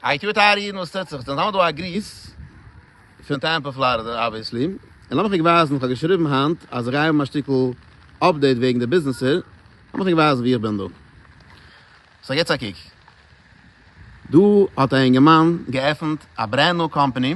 איי טי טייערע אידן וואס טוט זיך? ס'נאכאמאל דא א גריס פון טעמפא פלארידע אבוויעסלי, און לאמיך ענק ווייזן, כ'האב געשריבן היינט אז כ'גיי האבן א שטיקל אפדעיט וועגן די ביזנעסער, לאמיך ענק ווייזן ווי איך בין דא. סאו געטס א קוק. דא האט א אינגערמאן געעפנט א ברענד ניו קאמפאני.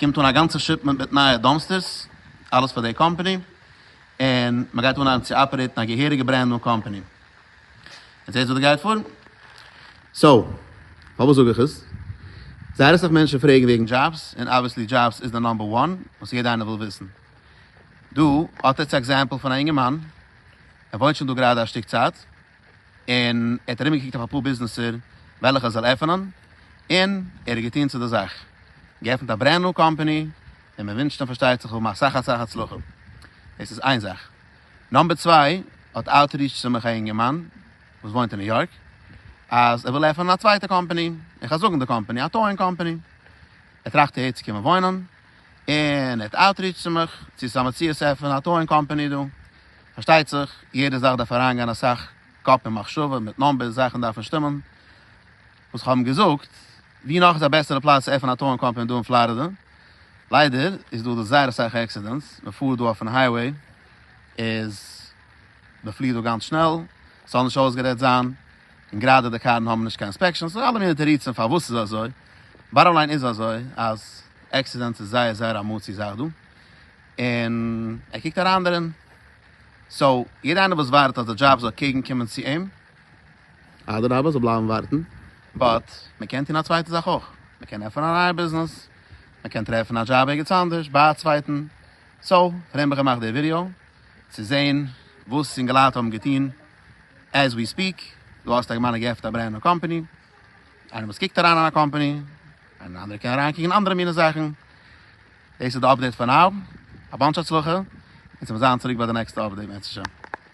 קומט אן א גאנצע שיפמענט מיט נייע דאמסטערס, אלעס פאר די קאמפאני, און מען גייט אנהייבן צו אפערעיטן א געהעריגע ברענד ניו קאמפאני. און זעהטס וואס דא גייט פאר. סאו, פארוואס זאג איך עס? זייער אסאך מענטשן פרעגן וועגן דזשאבס, און אבוויעסלי דזשאבס איז די נאמבער וואן וואס יעדע איינער וויל וויסן. דא האט עטס א עקזעמפל פון א אינגערמאן, ער וואוינט שוין דא גראדע א שטיק צייט, און ער האט ארומגעקוקט אויף אפאר ביזנעסער וועלכע ער זאל עפענען, און ער האט געטון צו די זאך, געעפנט א ברענד ניו קאמפאני, און מען ווינטשט אים פארשטייט זיך האבן אסאך אסאך הצלחה, דאס איז איין זאך. נאמבער צוויי האט אוטריטש צו מיך א אינגערמאן וואס וואוינט אין ניו יארק, אז ער וויל עפענען א צווייטע קאמפאני, איך וועל זאגן די קאמפאני, א טאועינג קאמפאני, ער טראכט אהער צו קומען וואוינען, און ער האט אוטריטש צו מיך צו ס'איז א מציאות צו עפענען א טאועינג קאמפאני דא, פארשטייט זיך יעדע זאך דארף אריינגיין אסאך קאפ און מחשבה מיט נומבערס, זאכן דארפן שטימען, וואס כ'האב אים געזאגט, ווי נאך איז א בעסערע פלאץ צו עפענען א טאועינג קאמפאני דא אין פלארידע, ליידער איז דא דא זייער אסאך עקסידענטס, מען פארט דא אויפן הייוועי איז מען פליט דא גאנץ שנעל, ס'זאל נישט אויסגערעדט זיין, און גראדע די קארן האבן נישט קיין אינספעקשאנס, אלע מיני תירוצים פארוואס ס'איז אזוי, באטאם ליין איז אזוי אז. עקסידענטס איז זייער זייער א מאסי זאך דא, און ער קוקט אריין דערין, סאו יעדער איינער וואס ווארט אז די דזשאב זאל קעגן קומען צו אים, אדרבה זאל בלייבן ווארטן, באט מען קען טון א צווייטע זאך אויך, מען קען עפענען א נייע ביזנעס, מען קען טרעפן א דזשאב ערגעץ אנדערש ביי א צווייטן, סאו פארדעם האב איך געמאכט די ווידיאו, צו זען וואס סינגעלייט האבן געטון, עז ווי ספיעק, דא האסטו א גמרא געעפנט א ברענד ניו קאמפעני, איינער וואס קוקט אריין אין א קאמפעני, און אנדערע קענען אריינקוקן אין אנדערע מיני זאכן. דאס איז די אפדעיט פאר נאו, א באנטש הצלחה, און ס'וועט זיין צוריק ביי די נעקסטע אפדעיט בעזהשי ת.